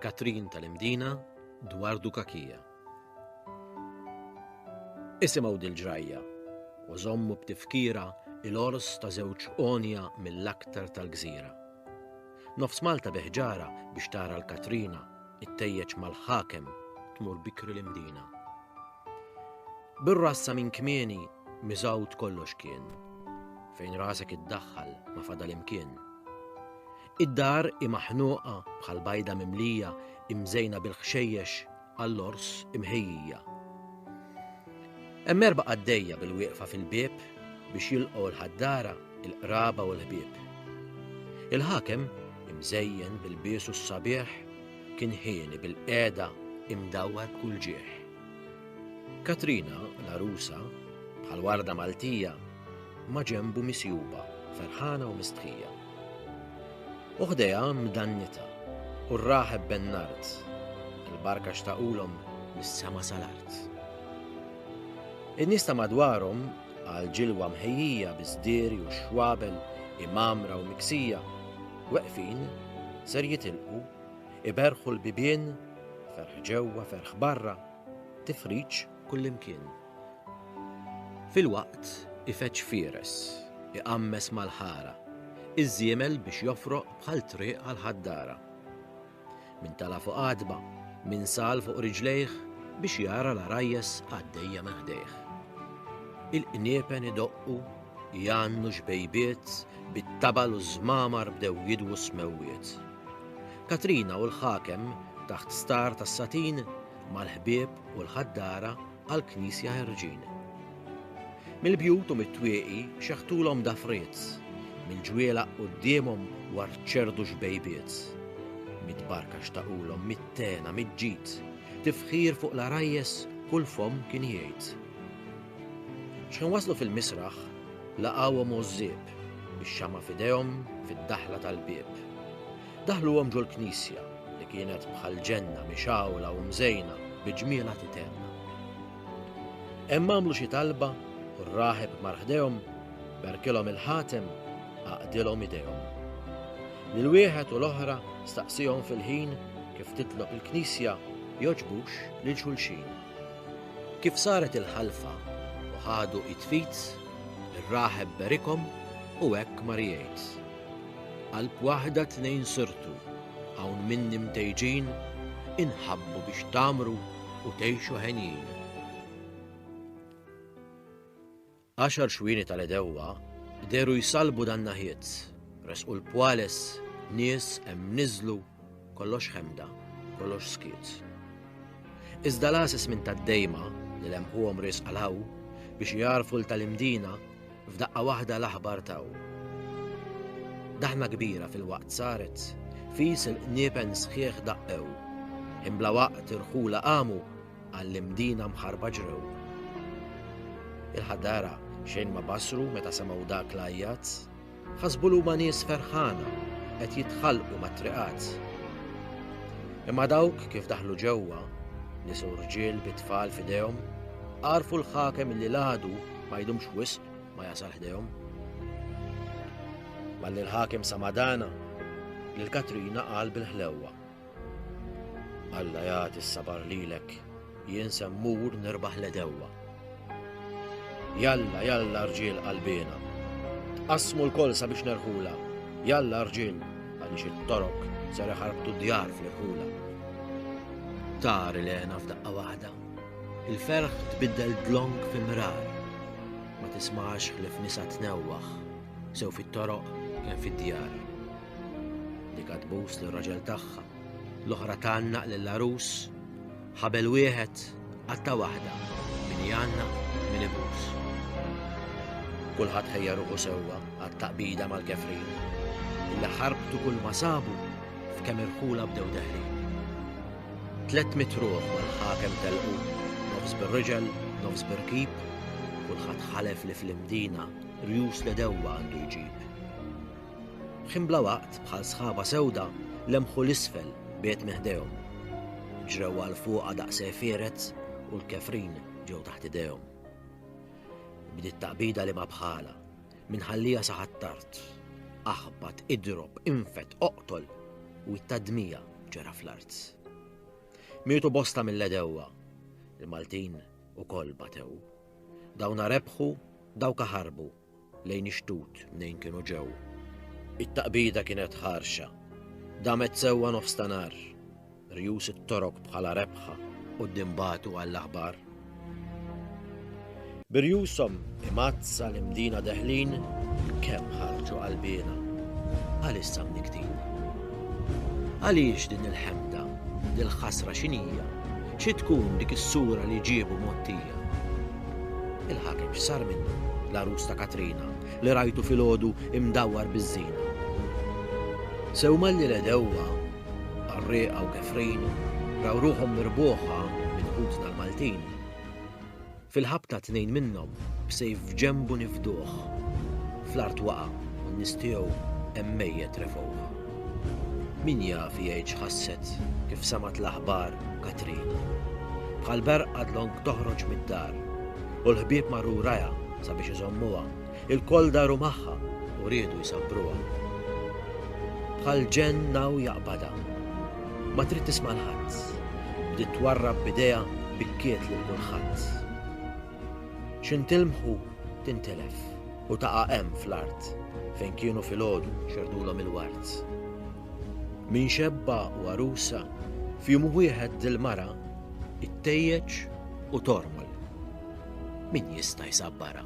Katrin tal-Imdina dwar Dukakija. Isimgħu dil-ġrajja u żommu b'tifkira il-ors ta' żewġ onja mill-aktar tal-gżira. Nofs Malta beħġara biex tara l-Katrina, it-tejjeċ mal-ħakem tmur bikri l-imdina. Bir-rassa minn kmieni miżawt kollox kien. Fejn rasek iddaħħal ma fadal imkien. Id-dar hi maħnuqa bħal bajda mimlija imżejna bil-ħxejjex għall-ors imħejjija. Hemm erba' qaddejja bil-wieqfa fil-bieb biex jilqgħu l-ħaddara, il-qraba u l-ħbieb. Il-ħakem, imżejjen bil-biesu s-sabiħ, kien ħieni bil-qeda imdawwar kull ġieħ. Katrina, l-arusa, bħal warda Maltija, maġenbu misjuba, ferħana u mistħija. U ħdejha mdannitha, u r-raħeb ben-nard, il-barka xtaqulhom mis-sema sal-art. In-nies ta' madwarhom, għal ġilwa mħejjija bi sdiri u xwabel, imamra u miksija, weqfin, ser jitilqu, iberħu l-bibien, ferħ ġewwa, ferħ barra, tifriġ kullimkien. Filwaqt ifeġġ fieres, iqammes mal-ħara, iż-żiemel biex jofroq bħal triq għall-ħaddara. Min tala' fuq għatba, min sal fuq riġlejh biex jara l-għarajjes għaddejja minn ħdejh. Il-qniepen idoqqu, jgħannu xbejbiet, bit-tabal u ż-żmamar bdew jidwu s-smewwiet. Katrina u l-ħakem taħt star tas-satin, mal-ħbieb u l-ħaddara, għall-knisja ħerġin. Mill-bjut u mit-twieqi xeħtulhom dafriet, mill-ġwielaq quddiemhom warċerdu xbejbiet. Mid-barka xtaqulhom mit-tena, miġġid, tifħir fuq l-arajjes kull fomm kien jgħid. X'ħin waslu fil-misraħ, laqgħuhom użżieb, bix-xama f'idejhom fid-daħla tal-bieb. Daħluhom ġol-knisja, li kienet bħal ġenna mixgħula u mżejna bi ġmielha titenna. Hemm għamlu xi talba u r-raħeb mar ħdejhom, berkilhom il-ħatem, għaqdilhom idejhom. Lil wieħed u l-oħra staqsihom fil-ħin kif titlob il-knisja jogħġbux lil xulxin. Kif saret il-ħalfa u ħadu id fit, ir-raħeb berikhom u hekk mar jgħid. Qalb waħda tnejn sirtu, hawn minni mtejġin, inħabbu biex tgħammru u tgħixu henjin. Għaxar xwieni tal-għedewwa dehru jsallbu dan-naħiet, resqu l-pwales, nies hemm niżlu, kollox ħemda, kollox skiet. Iżda l-għases minn tad-dejma li lemħuhom riesq għal hawn biex jagħrfu l tal-imdina F'daqqa waħda l-aħbar taw. Daħna kbira fil-waqt saret, fis il-qniepen sħiħ daqqew. Imbla waqt irħula qamu għall-imdina mħarba ġrew. Il-ħadara xejn ma basru meta semaw dak l-ajjat, ħasbu l nies ferħana qed jitħalqu mat-triqat. Imma dawk kif daħlu ġewwa, nisu rġiel bit-tfal fidejhom, għarfu l-ħakem li l-għadu ma jdumx wisq ma jasal ħdejhom. Malli l-ħakim Samadana li l-Katrina qal bil-ħlewwa. Alla jagħti s-sabar lilek jien semmur nirbaħ l-edewwa. Jalla, jalla rġiel qalbina. Tqasmu l-kol sabiex nerħula. Jalla rġiel għaliex it-torok sar ħarbtu djar fl-irħula. Tari lena f'daqqa waħda. Il-ferħ tbiddel dlonk fi mrar, ma tismax ħlief nisa tnewwaħ, sew fit-toroq kemm fid-djar. Dik tbus lir raġel tagħha, l-oħra tgħannaq lill-għarus, ħabel wieħed qatta waħda min jgħannaq min ibus. Kulħadd ħejja ruħu sewwa għat-taqbida mal-kefrin, li ħarbtu kull ma sabu f'kemm irħula bdew deħlin. Tlett mitt ruħ mal-ħakem telqu, nofs bir-riġel, nofs bir-rkib, kulħadd ħalef li fl-Imdina rjus l-għedewwa għandu jġib. Ħin bla waqt, bħal sħaba sewda, lemħu l-isfel biet minn ħdejhom. Ġrew għal fuqha daqs firet u l-kefrin ġew taħt idejhom. Bdiet taqbida li ma bħala, Min ħallija sa ħat-tard, aħbat, idrob, infed, oqtol, u it-tadmija ġera fl-art. Mietu bosta mill-edewwa, il-Maltin ukoll batew. Dawna rebħu, dawka ħarbu, lejn ixtut mnejn kienu ġew. It-taqbida kienet ħarxa, damet sewwa nofs ta' nar. Rjus it-Torok bħala rebħa quddiem bagħtu għall-aħbar. Bi rjushom imgħaddsa l-imdina deħlin kemm ħarġu qalbiena għalissa mniktin. Għaliex din il-ħemda, dil-ħasra xinija, xi tkun dik is-sura li ġiebu mottija? Il-ħakem x'sar minnu l-arus ta' Katrina li rajtu fil-ħodu imdawwar biż-żina. Sewma li l-edewwa Qarrieqa u Kefrin raw ruħhom mirbuħa minn ħutna l-Maltin. Fil-ħabta tnejn minnhom b'sejf f'ġenbu nifduh. Fl-art waqa' u n-nies tiegħu hemm mejjet refgħuh. Min jaf jgħid x'ħasset kif semgħet l-aħbar Katrin. Bħal berqa dlonk toħroġ mid-dar u l-ħbieb marru wrajha sabiex iżommuha. Ilkoll daru magħha u riedu jsabbruha. Bħal ġenn hawn jaqbadha. Ma trid tisma' 'l ħadd. Bdiet twarrab b'idejha bikkiet lil kulħadd. Xi ntilmħu tintilef u taqa' hemm fl-art fejn kienu filgħodu xerrdulhom il-ward. Min xebba u għarusa, f'jum wieħed dil-mara, ittejjeġ u tormol. Min jista' jsabbarha?